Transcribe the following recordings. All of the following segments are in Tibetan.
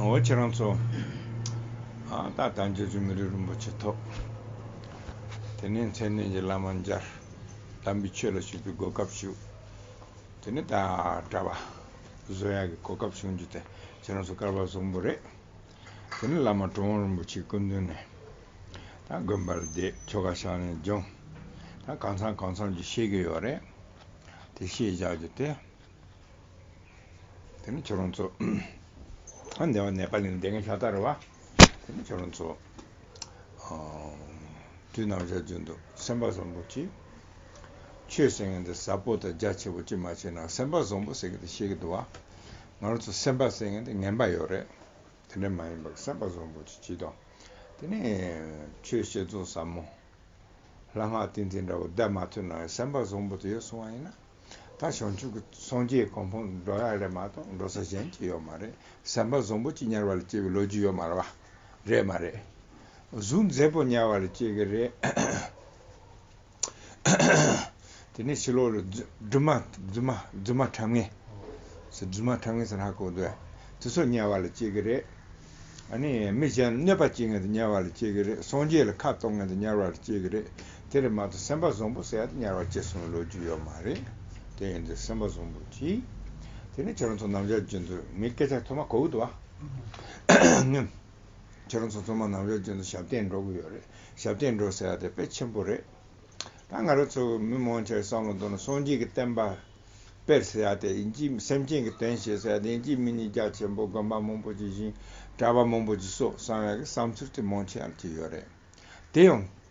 འོ་ཁྱེད་རང་ཚོ། ད་ལྟ་བྱང་ཆུབ་སེམས་མི་རིགས་རིན་པོ་ཆེ་ཐོབ། དེ་ནས་མཚན་གནས་ཀྱི་བླ་མ་འཇར། དམ་པའི་ཆོས་ལ་ཞུགས་པའི་གོ་སྐབས་ཞུགས། དེ་ནས་ད་གྲྭ་བ། བཟོ་ཡག་གི་གོ་སྐབས་བྱུང་རྒྱུ་དེ་ཁྱེད་རང་ཚོ་སྐལ་བ་བཟང་པོ་རེད། དེ་ནས་བླ་མ་གྲོང་དབང་རིན་པོ་ཆེའི་སྐུ་མདུན་ནས། དགོན་པར་བསྡད་ཆོ་ག་ཞག་ནས་སྦྱོང། གང་ཚང་གང་ཚང་གཅིག་ཤེས་གི་ཡོད་རེད། དེ་ཤེས་བཞག་རྒྱུ་དེ། དེ་ནི་ཁྱོད་རང་ཚོ། འདི་བ་ནེ་པ་ལི་ནས་བསྡད་མཁན་ཤ་སྟག་རེད་བ། དེ་ནི་ཁྱོད་རང་ཚོ། དུས་ནམ་ཞག་བརྗོད་འདུག་སེམས་པ་བཟང་པོ་གཅིག། ཆོས་ཟེར་མཁན་དེ་ཟབ་པོ་དང་རྒྱ་ཆེ་པོ་གཅིག་མ་བྱས་ན་སེམས་པ་བཟང་པོ་ཟེར་གི་དེ་ཤེས་གི་འདུག་བ། ང་རང་ཚོ་སེམས་པ་ཟེར་མཁན་དེ་ངན་པ་ཡོད་རེད། དེ་འདྲ་མ་ཡིན་པར་སེམས་པ་བཟང་པོ་ཅིག་བགྱིས་དང། དེ་ནས་ཆོས་བཤད་རྫོགས་ཟབ་མོ། ལྷ་སྔགས་ཏིང་འཛིན་འདྲ་བོ་བཟླས་མ་ཐུབ་ན་ཡང་སེམས་པ་བཟང་པོ་དེ་ཡོད་སོང་བ་ཡིན་ན། ད་བྱང་ཆུབ་ཀྱི་སངས་རྒྱས་གང་ཕོངས་འགྲོ་ཡག་རེད་མ་གཏོགས་འགྲོ་ས་གཞན་གཅིག་ཡོད་མ་རེད་སེམས་པ་བཟང་པོ་ཅིག་དམྱལ་བ་ལ་སྐྱེ་བའི་ལོ་རྒྱུས་ཡོད་མ་རེད་བ། རེད་མ་རེད། གཟུགས་མཛེས་པོ་དམྱལ་བ་ལ་སྐྱེ་གི་རེད། དེ་ནས་ཕྱི་ལོགས་ལ་རྫུན་མ་རྫུན་མ་རྫུན་མ་ཁྲབ་ངེས། རྫུན་མ་ཁྲབ་ངེས་ཟེར་ཧ་གོ་འདོད། དེ་སོགས་དམྱལ་བ་ལ་སྐྱེ་གི་རེད། ཨ་ནི་མི་གཞན་ལ་གནོད་པ་བྱེད་ངེས་ཏེ་དམྱལ་བ་ལ་སྐྱེ་གི་རེད། སངས་རྒྱས་ལ་ཁ་གཏོང་ངེས་ཏེ་དམྱལ་བ་ལ་སྐྱེ་གི་རེད། དེ་ལས་མ་གཏོགས་སེམས་པ་བཟང་པོ་ཟེར་ཡག་ཏེ་དམྱལ་བ་སྐྱེ་སོང་བའི་ལོ་རྒྱུས་ཡོད་མ་རེད། དེ་ཡིན་དུས་སེམས་པ་བཟང་པོ་གྱིས། དེ་ནས་ཁྱེད་རང་ཚོ་ནམ་ཞར་རྒྱུན་དུ་ངའི་སྐད་ཆ་ཐོས་མ་གོ་གི་འདུག་བ། ཁྱེད་རང་ཚོ་ཚང་མ་ནམ་ཞར་རྗེས་ལ་ཞབས་བརྟན་འགྲོ་གི་ཡོད་རེད། ཞབས་བརྟན་འགྲོ་ཟེར་བ་དེ་དཔེ་ཆེན་པོ་རེད། ད་ང་རང་ཚོ་མི་མང་ཆེ་བའི་བསམ་བློ་འདོར་ན་སངས་རྒྱས་ཀྱི་བསྟན་པ། དཔེར་ཟེར་བ་དེ་ཡིན་གཅིག་སེམས་ཅན་གྱི་དོན་བྱེད་ཟེར་བ་དེ་ཡིན་གཅིག་མི་ཉིས་བརྒྱ་ཆེན་པོ་དགོན་པ་མང་པོ་ཇི་བཞིན་གྲྭ་པ་མང་པོ་ཇི་སོགས་གསང་བའི་བསམ་ཚུལ་དེ་མང་ཆེ་བ་ལ་གྱི་ཡོད་རེད། དེ་ཡང།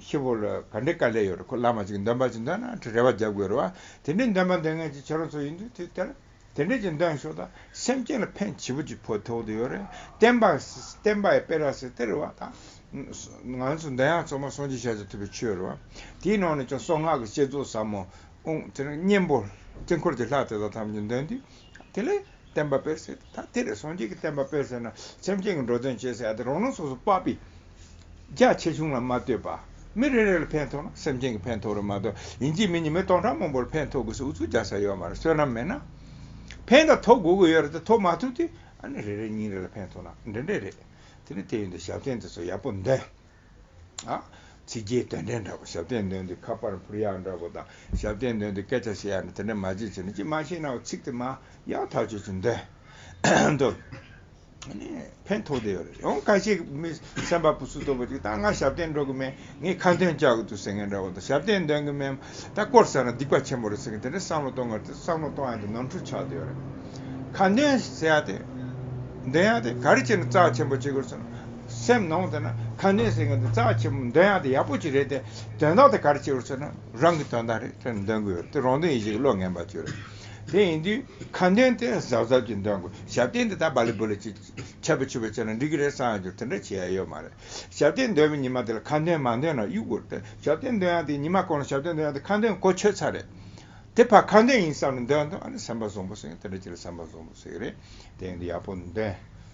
ཤི་བོ་ལ་ག་འདྲའི་དཀའ་ལས་ཡོད་རེད་ཁོ་བླ་མ་ཅིག་འདོན་པ་ཅིག་འདོན་ན་ཁྲི་རལ་བ་རྒྱབ་དགོས་རེད་བ་དེ་འདྲའི་འདོན་པ་འདོན་མཁན་ཅིག་ཁྱེད་རང་ཚོ་ཡིན་དུས་དུས་དེར་དེ་འདྲའི་ཅིག་འདོན་ཤོག་ད་སེམས་ཅན་ལ་ཕན་བྱེད་པོ་ཅིག་ཕོ་ཐོག་ཏུ་ཡོད་རེད་བསྟན་པ་ཡི་དཔེ་ར་སེ་དེ་རེད་བ་ད་ང་ཚོ་འདི་ཡང་ཚང་མ་སྲོང་བརྗོད་བྱ་ཆེད་ཐུབ་པའི་ཆོས་རེད་བ་དེའི་ནང་ནས་ཀྱང་སྲོག་སྔགས་ཀྱི་བསྐྱེད་རྫོགས་ཟབ་མོ་དབུང་གཉེན་པོ་དཀྱིལ་འཁོར་གྱི་ལྷ་དེ་དག་ཐམས་ཅད་འདོན་དུས་དེ་ལས་བསྟན་པ་སྤེལ་ཟེར་ད་དེ་ལས་ཟུང་འཇུག་གི་བསྟན་པ་སྤེལ་ཟེར་ན་སེམས་ཅན་གྱི་འགྲོ་དོན་བྱེད་ཟེར་ཡ་དེ་རང་རང་སོ་སོ་དཔའ་པའི། རྒྱ་ཆེ་ཆུང་ལ་མ་ལྟོས་པ། མི་རེ་རེ་ལ་ཕན་ཐོགས་ན་སེམས་ཅན་གྱི་ཕན་ཐོགས་རེད་མ་གཏོགས་ཡིན་གཅིག་མིན་གཉིས་མི་སྟོང་ཕྲག་མང་པོ་ལ་ཕན་ཐོགས་དགོས་སུ་འུ་ཚུགས་རྒྱག་ས་ཡོད་མ་རེད་བསོད་ནམས་མེད་ན། ཕན་དང་ཐོགས་དགོས་ཀྱི་ཡོད་རེད་དེ་ཐོགས་མ་ཐུབ་དུས་ཨ་ནི་རེ་རེ་ཉིན་རེ་ལ་ཕན་ཐོགས་ན་འགྲན་འགྲན་རེད། དེ་ནི་དེ་ཡོད་འདི་ཞབས་བརྟན་དེ་ཚོ་ཡག་པོ་འདོན། ཚིག་རྒྱའི་དོན་ཕྲན་འདྲ་པོ་ཞབས་བརྟན་འདོན་དུས་ཁ་པར་འཕུར་ཡག་འདྲ་པོ་དང་ཞབས་བརྟན་འདོན་དུས་སྐད་ཆ་བཤད་ཡག་འདྲ་དེ་འདྲ་མ་བྱེད་ཅེས་ནི་ཅིས་མ་བྱེད་ནའོ་ཚིག་དེ་མ་ཡག་ཐག་གཅོད་ཅིག་འདོན། འདོན། ཕན་ཐོགས་དེ་ཡོད་རེད་ཡང་ཁ་ཤས་ཀྱི་མི་སེམས་པ་ཕུ་སུ་ལྟ་བུ་ཅིག་ད་ང་ཞབས་བརྟན་འགྲོ་གི་མེད་ངས་ཁ་འདོན་བཅག་གི་འདུག་ཟེར་མཁན་འདྲ་བོ་དང་ཞབས་བརྟན་འདོན་གི་མེད་མ་ད་སྐོར་ཟེར་ན་སྡིག་པ་ཆེན་པོ་རེད་ཟེར་མཁན་དེ་འདྲའི་བསམ་བློ་གཏོང་གི་རེད་བསམ་བློ་གཏོང་ཡག་དེ་ནོར་འཁྲུལ་ཆགས་དེ་ཡོད་རེད། ཁ་འདོན་ཟེར་ཡག་དེ་འདོན་ཡག་དེ་ག་རེ་བྱས་ནས་རྩ་ཆེན་པོ་བྱེད་དགོས་རེད་ཟེར་ན། སེམས་ནང་དུ་ན་ཁ་ནས་ཟེར་མཁན་དེ་རྩ་ཆེན་པོ་འདོན་ཡག་དེ་ཡག་པོ་ཅིག་རེད་དེ། དོན་དག་དེ་གར་བྱེད་རོགས་ཟེར་ན་རང་གི་དོན་དག་རེད་དེ་འདོན་གི་ཡོད་དེ་རང་དོན་ཡིན་ཞིག་བློ་ངན་པ་ཅིག་རེད། དེ་ཡིན་དུས་ཁ་འདོན་དེ་གཟབ་གཟབ་ཅིག་འདོན་དགོས་ཞབས་བརྟན་དེ་ད་བ་ལི་བུ་ལི་ཅིག་ཆད་པ་ཆུད་པ་བྱས་ན་འགྲིག་གི་རེད་བསམ་ཡག་ཅིག་དེ་འདྲ་བྱེད་ཡག་ཡོད་མ་རེད། ཞབས་བརྟན་འདོན་པའི་ཉི་མ་དེ་ལ་ཁ་འདོན་མ་འདོན་ན་གཡུག་དགོས་རེད་དེ་ཞབས་བརྟན་འདོན་ཡག་དེ་ཉི་མ་གང་ལ་ཞབས་བརྟན་འདོན་ཡག་དེ་ཁ་འདོན་གོ་ཆོད་ཚར་རེད། དེ་ཕར་ཁ་འདོན་ཡིན་བསམ་ནས་འདོན་དང་ཨ་ནི་སེམས་པ་བཟང་པོ་ཟེར་མཁན་དེ་འདྲ་ཅིག་ལ་སེམས་པ་བཟང་པོ་ཟེར་གི་རེད་དེ་ཡིན་དུས་ཡག་པོ་འདོན།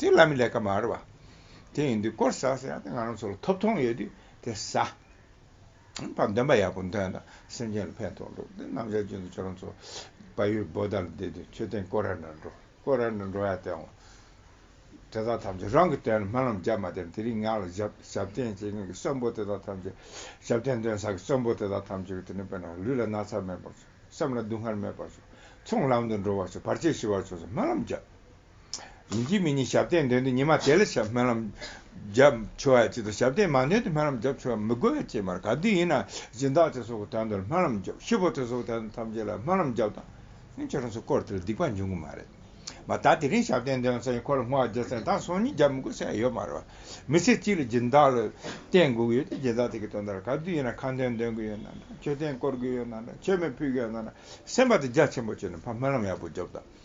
དེ་བླ་མའི་ལས་ཀ་མ་རེད་བ། དེ་ཡིན་དུས་སྐོར་ཟ་ཟེར་ཡག་དེ་ང་རང་ཚོ་ལ་ཐོབ་ཐོང་ཡོད་དུས་དེ་ཟ། ཨང་དང་འདོན་པ་ཡག་པོ་འདོན་ད་སེམས་ཅན་ལ་ཕན་ཐོག་འགྲོ་དེ་ནམ་ཞར་རྗེས་འདུག་ཁྱོད་རང་ཚོ་བ་ཡུལ་བོད་དར་ལ་བསྡད་དུས་མཆོད་རྟེན་སྐོར་ར་འདྲ་འགྲོ་སྐོར་ར་འདྲ་འགྲོ་ཡག་དེའང་དེ་དག་ཐམས་ཅད་རང་གི་དོན་ལ་སྨོན་ལམ་བརྒྱབ་མ་དེ་དེ་རིང་ངག་ལ་ཞབས་ཞབས་བརྟན་བྱེད་མཁན་གྱི་གསོན་པོ་དེ་དག་ཐམས་ཅད་ཞབས་བརྟན་འདོན་ས་གི་གསོན་པོ་དེ་དག་ཐམས་ཅད་ཀྱི་དེ་ནས་དཔེར་ན་ལུས་ལ་ན་ཚ་མེད་པར་བྱོས་སེམས་ལ་སྡུག་བསྔལ་མེད་པར་བྱོས་ཚོང་ལམ་དུ་འགྲོ་བར་བྱོས་བར་ཆད་ཞི་བར་བྱོས་སོགས་སྨོན་ལམ་བརྒྱབ། ཡིན་གྱི་མི་ཉིད་ཞབས་བརྟན་འདོན་དུས་ཉི་མ་དེ་ལ་ཞབས་སྨོན་ལམ་བརྒྱབ་ཆོག་ཡ་གཅིག་ཏུ་ཞབས་བརྟན་མ་འདོན་དུས་སྨོན་ལམ་བརྒྱབ་ཆོག་ཡ་མི་དགོས་ཡ་གཅིག་མར་ག་དུས་ཡིན་ན་སྦྱིན་བདག་ཚེ་སྲོག་གི་དོན་དུ་ལ་སྨོན་ལམ་བརྒྱབ་ཤི་བོ་ཚེ་སྲོག་གི་དོན་དུ་ཐམས་ཅད་ལ་སྨོན་ལམ་བརྒྱབ་དང་ཡང་ཁྱོད་རང་ཚོའི་སྐོར་དེ་ལ་སྡིག་པ་འབྱུང་གི་མ་རེད་མ་ད་དེ་རིང་ཞབས་བརྟན་འདོན་ཚེ་ཁོ་ལ་སྨོ་བ་བརྒྱབ་ཚེ་ད་སོང་ཉིན་བརྒྱབ་མི་དགོས་ས་ཡ་ཡོད་མ་རེད་བ་མི་ཚེ་གཅིག་ལ་སྦྱིན་བདག་ལ་བརྟེན་དགོས་ཀྱི་ཡོད་དུས་སྦྱིན་བདག་དེ་གི་དོན་དུ་ལ་ག་དུས་ཡིན་ན་ཁ་འདོན་འདོན་གི་ཡོད་ན་འདྲ་མཆོད་རྟེན་བསྐོར་གི་ཡོད་ན་འདྲ་མཆོད་མེ་ཕུལ་གི་ཡོད་ན་འདྲ་སེམས་པ་དང་རྒྱ་ཆེན་པོ་བཅོལ་ནས་ཕ་སྨོན་ལམ་ཡག་པོ་བརྒྱབ་དང།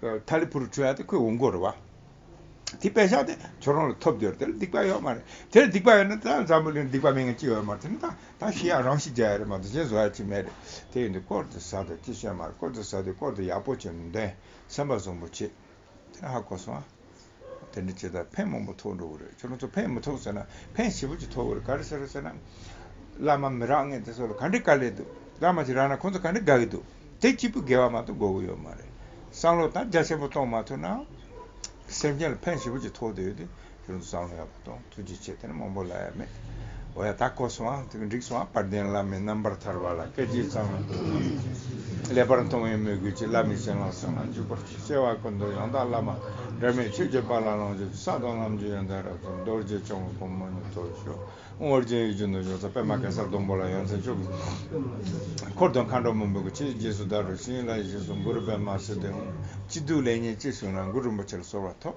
ད་ལི་བུར་འཁྲུལ་བ་དེ་ཁོས་འོང་གོ་རུ་བ། དེ་དཔེ་བཞག་ནས་ཁྱོད་རང་ལ་ཐོབ་འདོད་དེ་ལ་སྡིག་པ་ཡོད་མ་རེད། དེ་ལ་སྡིག་པ་ཡོད་ན་ད་འཛམ་བུ་གླིང་སྡིག་པ་མེད་མཁན་ཅི་ཡོད་མ་རེད་དེ་ནི་ད་ཤི་ཡག་རང་ཤི་རྒྱག་ཡ་རེད་མ་གཏོགས་གཞན་བཟོ་ཡ་ཅི་མེད་རེད། དེ་ཡིན་དུས་སྐོར་དེ་ཟ་དང་ཅི་བྱེད་མ་རེད་སྐོར་དེ་ཟ་དུས་སྐོར་དེ་ཡག་པོ་བྱེད་ནུས་དོན་སེམས་པ་བཟང་པོ་བྱེད། དེ་ནི་ཧ་གོ་སོང་ཨ། དེ་འདྲ་བྱེད་ད་ཕན་མང་པོ་ཐོགས་འགྲོ་གི་རེད་ཁྱོད་རང་ཚོ་ཕན་མི་ཐོགས་ཟེར་ན་ཕན་ཞེ་པོ་ཅིག་ཐོགས་གི་རེད་ག་རེ་ཟེར་རོ་ཟེར་ན། བླ་མ་མི་རག་ངེས་དེ་ཚོ་ལ་ག་འདྲི་དཀའ་ལས་འདུག་བླ་མ་ཞིག་རག་ན་ཁོང་ཚོ་ག་འདྲི་དགའ་གི་འདུག་དེ་གཅིག་པུ་དགེ་བ་མ་གཏོགས་དགོས་གི་ཡོད་མ་རེད་བསམ་བློ་དང་རྒྱ་ཆེན་པོ་གཏོང་མ་ཐུབ་ན་སེམས་ཅན་ལ་ཕན་ཞེ་པོ་ཅིག་ཐོགས་དུས་ཁྱོད་རང་ཚོ་བསམ་བློ་ཡག་པོ། དང་ཐུགས་རྗེ་ཆེ་དེ་ནི་མང་པོ་ལ་ཡང་མེད། འོ་ཡ་ད་གོ་སོང་ཨ། འགྲིག་སོང་ཨ། བར་ལྡན་བླ་མའི་རྣམ་པར་ཐར་བ་ལ་སྐལ་ལྕེ་ཚང་བའི་ཐུགས་རྗེ་ཆེ། ཀླད་པར་མཐོང་བའི་མོས་གུས་ཀྱིས་བླ་མའི་སྤྱན་སྔར་གསང་སྔགས་འཇུག་པར་བྱོས། བསྐལ་བ་ཀུན་ཏུ་ཡང་དག་བླ་མ་སྒྲོལ་མའི་ཆོས་ཀྱི་པཱ་ལགས་ལོངས་སྤྱོད་ཀྱི་ས་དང་ལམ་རྒྱུད་ཡོན་ཏན་རབ་ཏུ་རྡོ་རྗེ་འཆང་གི་སྒོ་མོ་ནས་ཐོབ་ཤོག་ཨང། ཨོ་རྒྱན་ཡིག་བརྒྱུད་མདོ་སྦྱོང་ཚ་པད་མ་གེ་སར་སྡོང་པོ་ལ་ཡང་མཚན་ཕྱོགས་ཀྱི་འཁོར་དང་མཁའ་འགྲོ་མ་འབུམ་གྱི་ཆས་རྗེས་སུ་བཟླས་པའི་ཤིང་ལ་ཡེ་ཤེས་སུ་གུ་རུ་པདྨ་བསིལ་ལྡན་འོད་ཀྱིས་བདུད་ལས་ཉེས་བྱས་བྱུང་ན་མགུར་རིན་པོ་ཆེར་གསོལ་བ་ཐོབ།